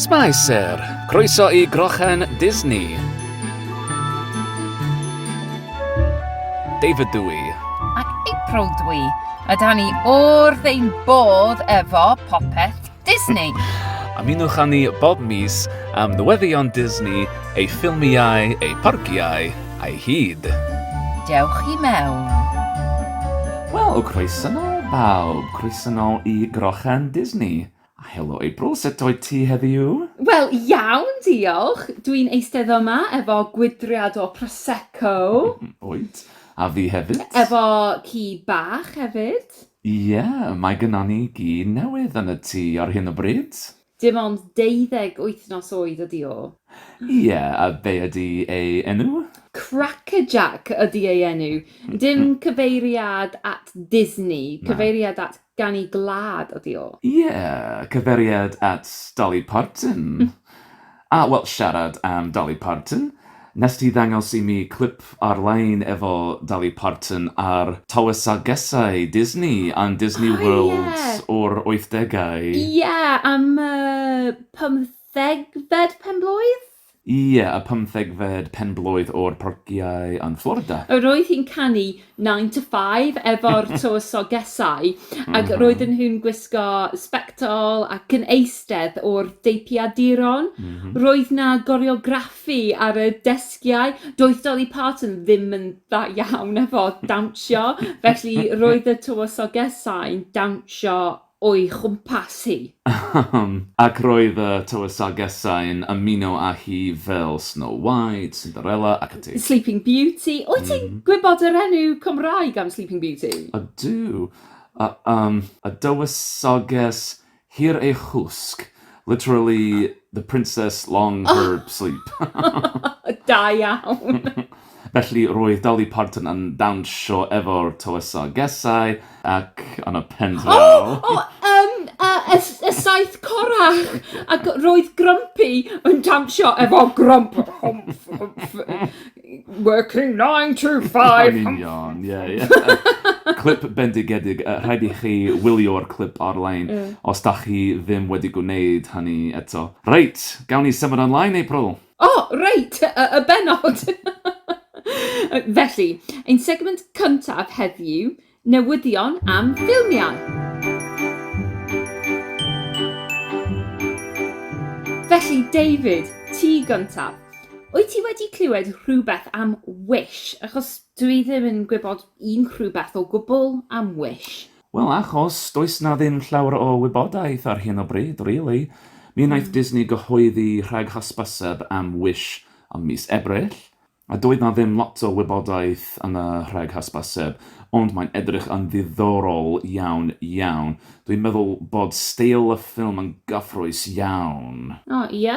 Smile Sir, croeso i Grochen Disney. David dw i. Ac April dw i. A da ni wrth ein bodd efo popeth Disney. Ymunwch â ni bob mis am newyddion Disney, ei ffilmiau, ei parciau, Ai hyd? Dewch i mewn. Wel, croeso nôl bawb, croeso nôl i Grochán Disney. A helo April, sut wyt ti heddiw? Wel, iawn diolch, dw i'n eistedd yma efo gwydriad o Prosecco. Wyt, a fi hefyd. Efo ci bach hefyd. Ie, mae gynnon ni gi newydd yn y tŷ ar hyn o bryd. Dim ond deuddeg wythnos oed ydi o. Ie, a be ydi ei enw? Crackerjack ydi ei enw. Dim cyfeiriad at Disney, cyfeiriad at ganu gwlad ydi o. Ie, cyfeiriad at Dolly Parton. A wel, siarad am Dolly Parton, wnest ti ddangos i mi clip ar-lein efo Dolly Parton ar tywysogesau Disney yn Disney World o'r wythdegau. Ie, am y pymthegfed pen-blwydd? Ie, y pymthegfed pen-blwydd o'r Parciau yn Florida. Yr oedd hi'n canu nine to five efo'r tywysogesau ac roedden nhw'n gwisgo sbectol ac yn eistedd o'r deipiaduron. Roedd 'na goreograffi ar y desgiau. Doedd Dolly Parton ddim yn dda iawn efo dawnsio, felly roedd y tywysogesau'n dawnsio... o'i chwmpas hi. Ahem! Ac roedd y tywysogesau'n ymuno â hi fel Snow White, Cinderella ac ati. Sleeping Beauty. Wyt ti'n gwybod yr enw Cymraeg am Sleeping Beauty? Ydw. Y, yym, y dywysoges hir ei chwsg. Literally, the princess long her sleep. Da iawn! Felly roedd Dolly Parton yn dawnsio efo'r Tywysog Gesau ac yn y pen draw... O! O! Yym y y s- y saith corrach! Ac roedd Grumpy yn dawnsio efo Grump! Humph humph working nine to five Yn humph humph union, ie ie. humph! Clip bendigedig, yy rhaid i chi wylio'r clip ar-lein os dach chi ddim wedi gwneud hynny eto. Reit, gawn ni symud ymlaen, April? O reit, y y bennod! Felly, ein segment cyntaf heddiw, newyddion am ffilmiau. Felly, David, ti gyntaf. Wyt ti wedi clywed rhywbeth am Wish? Achos dwi ddim yn gwybod unrhyw beth o gwbl am Wish. Wel, achos does 'na ddim llawer o wybodaeth ar hyn o bryd, rili. Mi wnaeth Disney gyhoeddi rhag hysbyseb am Wish ym mis Ebrill, a doedd 'na ddim lot o wybodaeth yn y rhag hysbyseb, ond mae'n edrych yn ddiddorol iawn, iawn. Dwi'n meddwl bod steil y ffilm yn gyffrous iawn. O, ie?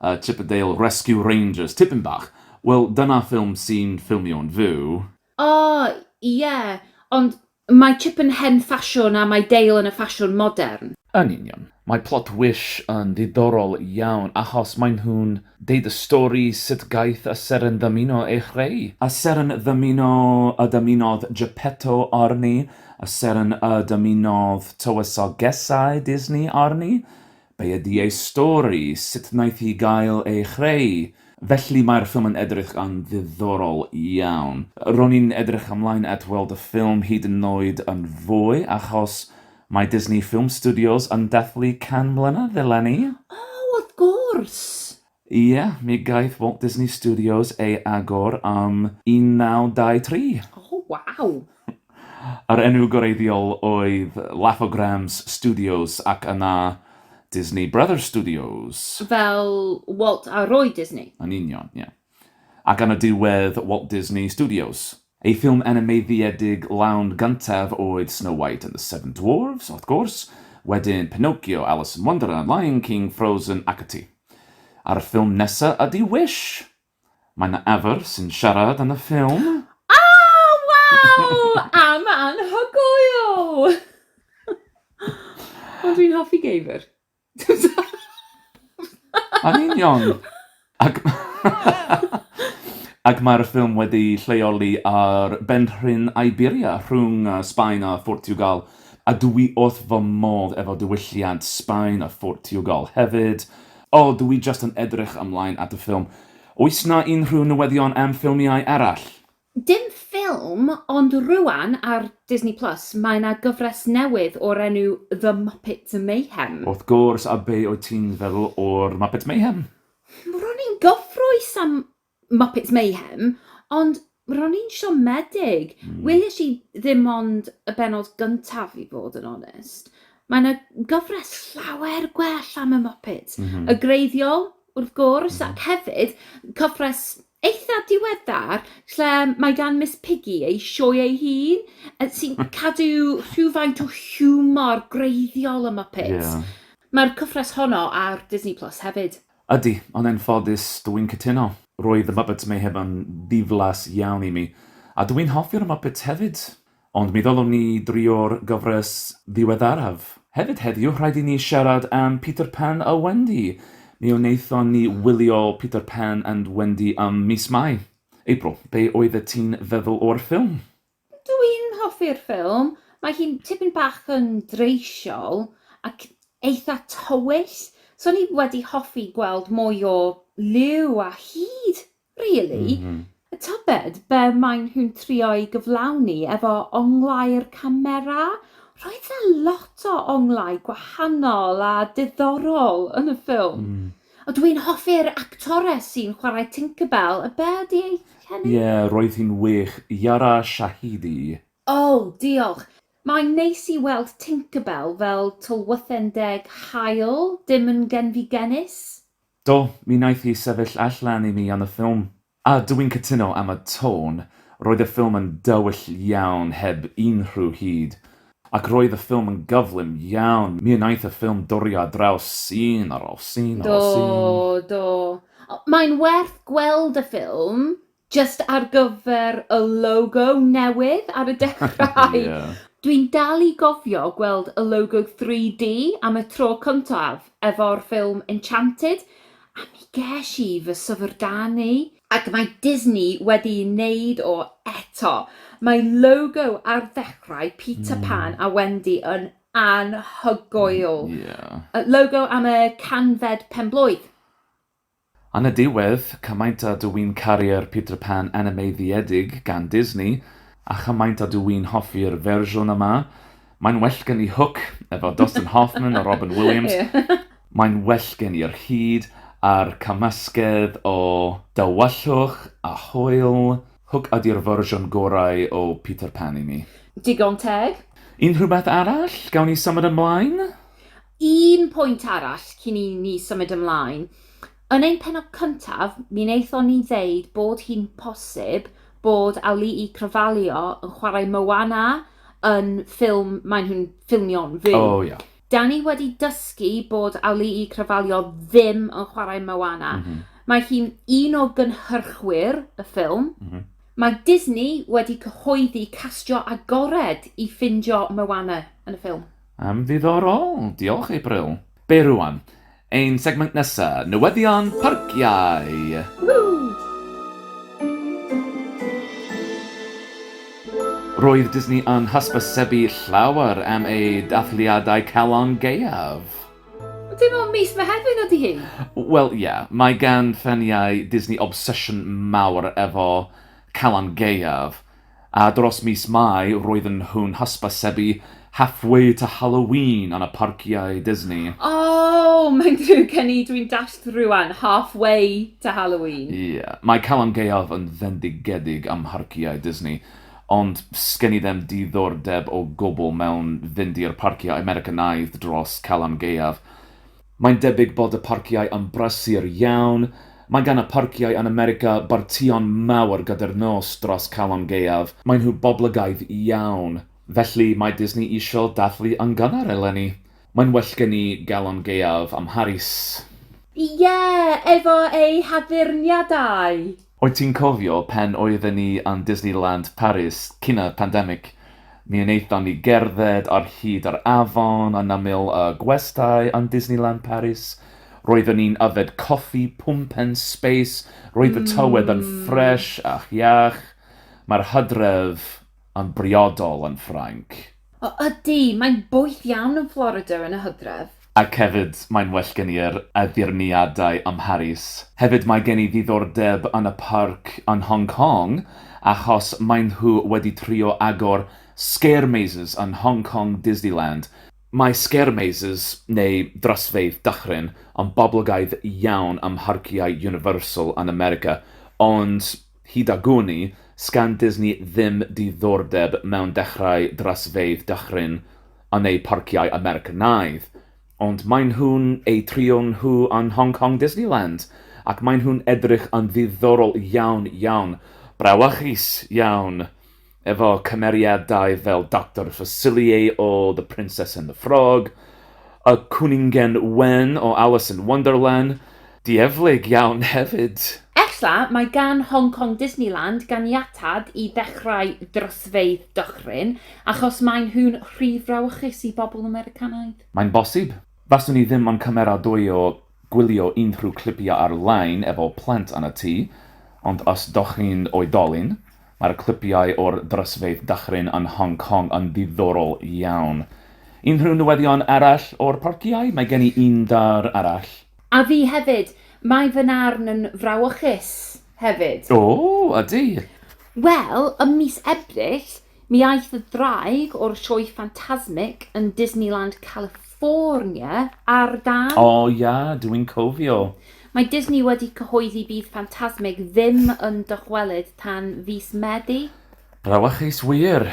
A Chippendale Rescue Rangers, tipyn bach. Wel, dyna ffilm sy'n ffilmio'n fyw. O, ie. Ond mae Chip yn hen ffasiwn a mae Dale yn y ffasiwn modern. Yn union. Mae plot Wish yn ddiddorol iawn achos maen nhw'n deud y stori sut gaeth y seren ddymuno ei chreu. Y seren ddymuno y dymunodd Geppetto arni, y seren y dymunodd tywysogesau Disney arni. Be ydi ei stori, sut wnaeth hi gael ei chreu? Felly mae'r ffilm yn edrych yn ddiddorol iawn. Ro'n i'n edrych ymlaen at weld y ffilm hyd yn oed yn fwy achos mae Disney Film Studios yn dathlu 100 mlynedd eleni. O, wrth gwrs! Ie, mi gaeth Walt Disney Studios ei agor yn 1923. O, waw! Yr enw gwreiddiol oedd Laugh-O-Grams Studios ac yna Disney Brothers Studios. Fel Walt a Roy Disney? Yn union, ie. Ac yn y diwedd Walt Disney Studios. Ei ffilm animeiddiedig lawn gyntaf oedd Snow White and the Seven Dwarfs, wrth gwrs, wedyn Pinocchio, Alice in Wonderland, Lion King, Frozen ac ati. A'r ffilm nesa ydi Wish! Mae 'na ewythr sy'n siarad yn y ffilm. O! Waw! Am anhygoel! O dwi'n hoffi geifr. Yn union! Ac ac mae'r ffilm wedi'i lleoli ar benrhyn Iberia, rhwng Sbaen a Phortiwgal, a dw i wrth fy modd efo diwylliant Sbaen a Phortiwgal hefyd. O, dw i jyst yn edrych ymlaen at y ffilm. Oes 'na unrhyw newyddion am ffilmiau arall? Dim ffilm, ond rŵan ar Disney Plus mae 'na gyfres newydd o'r enw The Muppet Mayhem. Wrth gwrs, a be wyt ti'n feddwl o'r Muppet Mayhem? Ro'n i'n gyffrous am Muppets Mayhem, ond ro'n i'n siomedig. Welish i ddim ond y bennod gyntaf i fod yn onest. Mae 'na gyfres llawer gwell am y Muppets. Y gwreiddiol, wrth gwrs, ac hefyd cyfres eitha diweddar lle mae gan Miss Piggy ei sioe ei hun yy sy'n hmm. cadw rhywfaint o hiwmor greiddiol ym Muppets. Yeah. Mae'r cyfres honno ar Disney Plus hefyd. Ydy, ond yn ffodus dw i'n cytuno. Roedd The Muppets Mayhem yn ddiflas iawn i mi. A dw i'n hoffi'r Muppets hefyd. Ond mi ddylwn ni drio'r gyfres ddiweddaraf. Hefyd heddiw, rhaid i ni siarad am Peter Pan a Wendy. Mi wnaethon ni wylio Peter Pan and Wendy ym mis Mai. April, be oeddet ti'n feddwl o'r ffilm? Dw i'n hoffi'r ffilm. Mae hi'n tipyn bach yn dreisiol ac eitha' tywyll, so o'n i wedi hoffi gweld mwy o liw a hud Really? A tybed be maen nhw'n trio'i gyflawni efo onglau'r camera? Roedd 'na lot o onglau gwahanol a diddorol yn y ffilm. Mm. O, dw i'n hoffi'r actores sy'n chwarae Tinkerbell, a be ydi ei henw? Ie, roedd hi'n wych, Yara Shahidi. O, diolch. Mae'n neis i weld Tinkerbell fel tylwythen deg haul, dim yn genfigennus. Do, mi wnaeth hi sefyll allan i mi am y ffilm. A dw i'n cytuno am y tôn, roedd y ffilm yn dywyll iawn heb unrhyw hud. Ac roedd y ffilm yn gyflym iawn, mi wnaeth y ffilm dwrio ar draws sîn ar ôl sîn ar ôl sîn. Do, do. Mae'n werth gweld y ffilm, Jyst ar gyfer y logo newydd ar y dechrau. Ie. Dwi'n dal i gofio gweld y logo 3D am y tro cyntaf efo'r ffilm Enchanted a mi gesh i fy syfrdanu. Ac mae Disney wedi neud o eto. Mae logo ar ddechrau Peter Pan a Wendy yn anhygoel. Ie. Logo am y canfed pen-blwydd. Yn y diwedd, cymaint a dw i'n caru'r Peter Pan animeiddiedig gan Disney, a chymaint a dw i'n hoffi'r fersiwn yma, mae'n well gen i Hook efo Dustin Hoffman a Robin Williams, mae'n well gen i'r hud a'r cymysgedd o dywyllwch a hwyl, Hook ydi'r fersiwn gorau o Peter Pan i mi. Digon teg. Unrhywbeth arall? Gawn ni symud ymlaen? Un pwynt arall cyn i ni symud ymlaen. Yn ein pennod cyntaf, mi wnaethon ni ddeud bod hi'n posib bod Ali'i Cravalho yn chwarae Moana yn ffilm maen nhw'n ffilmio'n fyw. Oh, yeah. Da ni wedi dysgu bod Ali'i Cravalho ddim yn chwarae Moana. Mm -hmm. Mae hi'n un o gynhyrchwyr y ffilm. Mm -hmm. Mae Disney wedi cyhoeddi castio agored i ffindio Moana yn y ffilm. Yn ddiddorol, diolch April. Be rwan? Ein segment nesa, newyddion parciau! Roedd Disney yn hysbysebu llawer am eu dathliadau calon gaeaf. Dim ond mis Mehefin ydy hi! Wel ie, mae gan ffaniau Disney obsesiwn mawr efo calon gaeaf. A dros mis Mai roedden nhw'n hysbysebu Halfway to Halloween yn y parciau Disney. O! Mae'n ddrwg gen i, dwi'n dallt rŵan, Halfway to Halloween. Ie, mae Calan Gaeaf yn fendigedig ym mharciau Disney, ond sgen i ddim diddordeb o gwbl mewn fynd i'r parciau Americanaidd dros Calan Gaeaf. Mae'n debyg bod y parciau yn brysur iawn. Mae gan y parciau yn America bartïon mawr gyda'r nos dros Calon Gaeaf. Maen nhw boblogaidd iawn. Felly, mae Disney eisiau dathlu yn gynnar eleni. Mae'n well gen i Galon Gaeaf ym Mharis. Ie, efo ei haddurniadau! Wyt ti'n cofio pan oedden ni yn Disneyland Paris cyn y pandemig? Mi wnaethon ni gerdded ar hyd yr afon yn ymyl y gwestai yn Disneyland Paris. Roeddwn ni'n yfed coffi pumpen sbeis, roedd y tywydd yn ffres ac iach. Mae'r hydref yn briodol yn Ffrainc. O ydy, mae'n boeth iawn yn Florida yn y hydref. Ac hefyd, mae'n well gen i yr addurniadau ym Mharis. Hefyd, mae gen i ddiddordeb yn y parc yn Hong Kong achos maen nhw wedi trio agor Scare Mazes yn Hong Kong Disneyland. Mae Scare Mazes, neu Drysfeydd Dychryn, yn boblogaidd iawn ym mharciau Universal yn America, ond Hyd a gwn-i, sgan Disney ddim diddordeb mewn dechrau drasfeydd dychryn a neu parciau Americanaidd, ond maen nhw'n eu trio nhw yn Hong Kong Disneyland, ac maen nhw'n edrych yn ddiddorol iawn, iawn. Brawychus iawn! Efo cymeriadau fel Doctor Facilier o The Princess and the Frog, y Cwningen Wen o Alice in Wonderland, dieflig iawn hefyd! Ella mai gan Hong Kong Disneyland ganiatad i ddechrau drosfeydd dychryn, achos maen nhw'n rhy frawychus i bobl Americanaidd? Mae'n bosib. Faswn i ddim yn cymeradwyo Gwylio unrhyw clipiau ar-lein efo plant yn y tŷ, ond os dach chi'n oedolyn, mae'r clipiau o'r drysfeydd dychryn yn Hong Kong yn ddiddorol iawn. Unrhyw newyddion arall o'r parciau? Mae gen i un dar arall. A fi hefyd. Mae fy narn yn frawychus hefyd. O, ydy! Wel, ym mis Ebrill, Mi aeth y ddraig o'r sioe ffantasmic yn Disneyland California ar dân. O ia, dw i'n cofio. Mae Disney wedi cyhoeddi bydd Ffantasmic ddim yn dychwelyd tan fis Medi. Brawychus wir!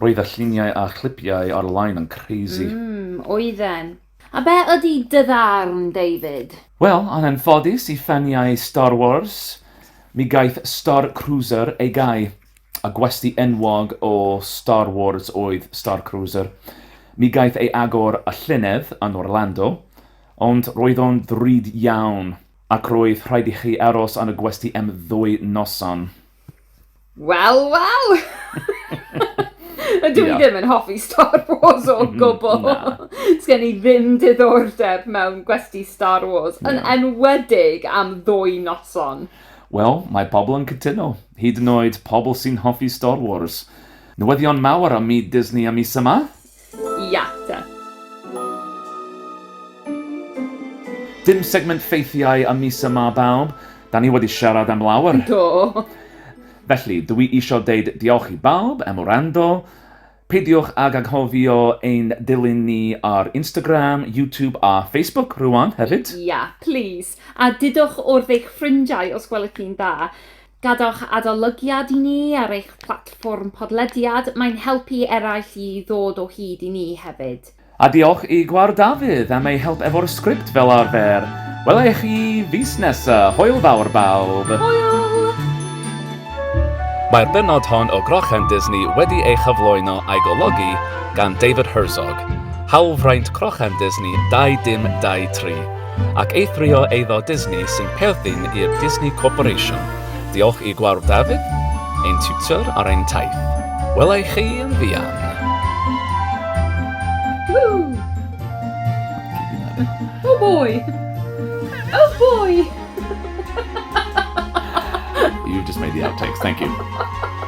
Roedd y lluniau a chlipiau ar-lein yn crazy. Mm, oedden. A be ydy dy ddarn, David? Wel, yn anffodus i ffaniau Star Wars, mi gaeth Star Cruiser ei gau. A gwesty enwog o Star Wars oedd Starcruiser. Mi gaeth ei agor y llynedd yn Orlando, ond roedd o'n ddrud iawn, ac roedd rhaid i chi aros yn y gwesty am ddwy noson. Wel, wel! Ydw i ddim yn hoffi Star Wars o gwbl. Sgen i ddim diddordeb mewn gwesty Star Wars, yn enwedig am ddwy noson. Wel, mae pobl yn cytuno, hyd yn oed pobl sy'n hoffi Star Wars. Newyddion mawr am myd Disney y mis yma? Iata! Dim segment ffeithiau y mis yma, bawb. Da ni wedi siarad am lawer. Do! Felly, dw i isio deud diolch i bawb am wrando. Peidiwch ag anghofio ein dilyn ni ar Instagram, YouTube a Facebook rŵan hefyd! Ia, plis! A dudwch wrth eich ffrindiau os gwelwch chi'n dda. Gadewch adolygiad i ni ar eich platfform podlediad, mae'n helpu eraill i ddod o hyd i ni hefyd. A diolch i Gwawr Dafydd am ei help efo'r sgript fel arfer. Wela i chi fis nesa. Hwyl fawr bawb! Hwyl! Mae'r bennod hon o Grochan Disney wedi ei chyflwyno a'i golygu gan David Herzog. Hawlfraint Crochan Disney 2 dim 2 tri. ac eithrio eiddo Disney sy'n perthyn i'r Disney Corporation. Diolch i Gwawr Dafydd, ein tiwtor ar ein taith. Wela i chi yn fuan. Woo! Oh boy! Oh boy! You just made the outtakes, thank you.